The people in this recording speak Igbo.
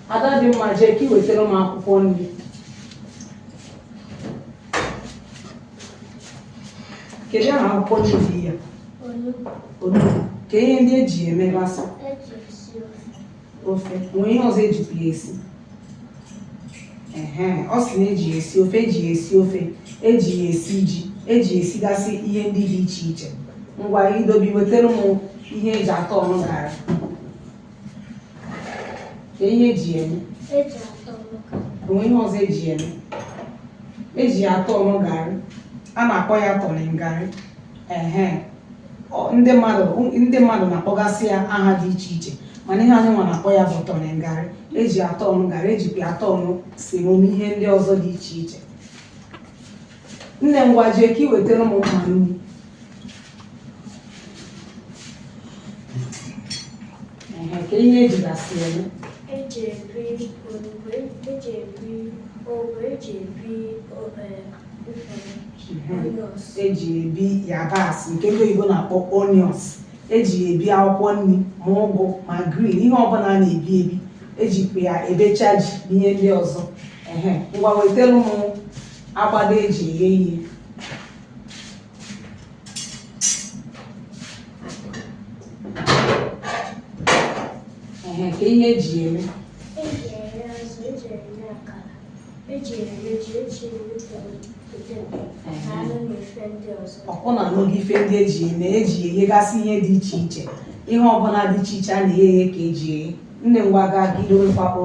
Ada dị mma jee ka ị wetara m akwụkwọ nri kedu aha akwụkwọ nri dị ya onugbu kee ihe ndị eji emegasị ofe nwee ihe ọzọ ejikwa ya esi ehe ọ sị na eji ya esi ofe eji ya esi ofe eji ya esi ji eji ya esigasị ihe ndị dị iche iche ngwa idobi wetara m ihe eji atọnụ garị kee ihe eji eme eji atọ ọka o nwee ihe ọzọ eji eme eji atọnụ garị a na-akpọ ya turning garị ehe Ọ- ndị mmadụ ndị mmadụ na-akpọgasị ya aha dị iche iche mana ihe anyị nwa na-akpọ ya bụ turning garị eji atọnụ garị ejikwa ya atọnụ semo na ihe ndị ọzọ dị iche iche nne ngwa jee ka ị wetara m mma nri Ehe, kee ihe ejigasị eme eji ebi olugbu eji ebi ogbe eji ebi o- eh, mfere onions eji ebi yabasị nke ndị oyibo na-akpọ onions eji ebi akwụkwọ nri ma ụgụ ma green ihe ọbụla a na-ebi ebi ejikwa ya ebecha ji na ihe ndị ọzọ ehe ngwa wetara m agbada eji eghe ihe ehe kee ihe eji eme eji eghe azụ eji eghe akara eji eghe ji eji eghe poteto na anụ na ife ndị ọzọ ọkwụ na n'oge ife ndị eji eme eji eghegasị ihe dị iche iche ihe ọbụla dị iche iche a na-eghe eghe ka eji eghe nne ngwa gaa ka idowekwapo